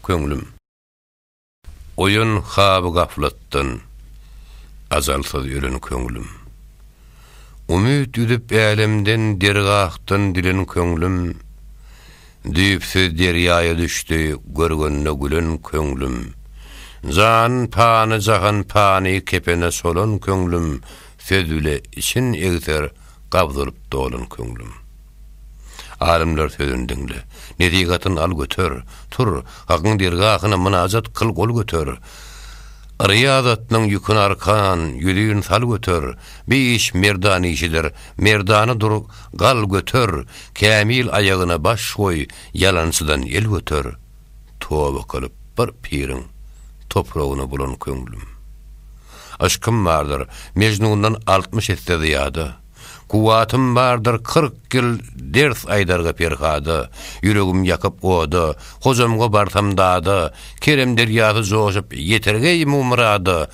köňlüm. Oýan haby gaflatdan, ajalsyz ölen köňlüm. Umyt üzüp älemden, dergahdan dilen köňlüm. Düýpsüz derýaýa düşdi, görgende gülen köňlüm. Jan pany, jahan pany kepene solan köňlüm, söz bile için egser, gabdyryp dolan köňlüm. Alymlar sözüni diňle, Nesihatyn al göter, Tur, Hakyň dergahyna mynajat kyl gol göter, Ryýazatynyň ýükün arkan, ýüzin sal göter, Bi iş merdan işidir, merdana dur, gal göter, Kämil aýagyna baş goý, ýalançydan el göter, Toba kylyp bir piriň topragyna bulan köňlüm. Yşkym bardyr, Mejnundan altmyş esse zyýada. Kuwwatym bardyr kyrk ýyl ders aýdarga Perhada, Ýüregim ýakyp oda, Hojamga barsam dada, Kerem derýasy joşup ýeter geý mumurada,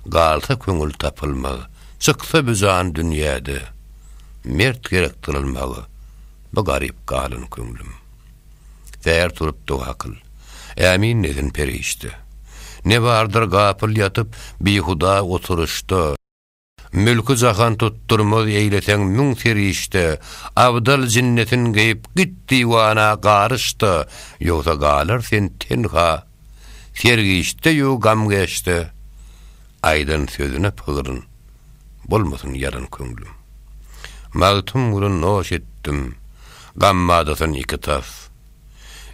Galsa köňül tapylmaz, çyksa bu jan dünýäde, Mert gerek dyrylmaga, bu garyp galan köňlüm. Säher turup doga kyl, Ämin desin perişde, Ne bardyr gapyl ýatyp, bihuda oturyşda, Mülki jahan tutdurmaz eýleseň müň serişde, Abdal jinnetin geýip git diwana garyş-da, Ýogsa galar sen tenha, sergişde-ýu gamgeşde, Aýdan sözüne pygyryn, bolmasyn ýalan köňlüm. Magtymguly noş etdim, gammadasyn iki tas.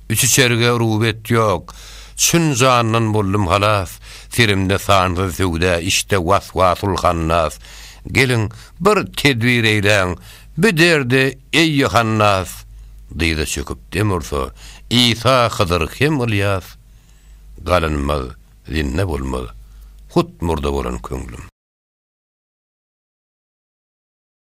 Üç-üçerge rubet ýok, Çyn jandan boldum halas, Serimde sansyz söwda, Içde was-wasul hannas. Geliň, bir tedbir eýläň, Bi derde, eý Ýohannas! Dyza çöküp dem ursa, Isa, Hydyr hem Ylýas. Galynmaz, zinda bolmaz, Hut murda bolan köňlüm.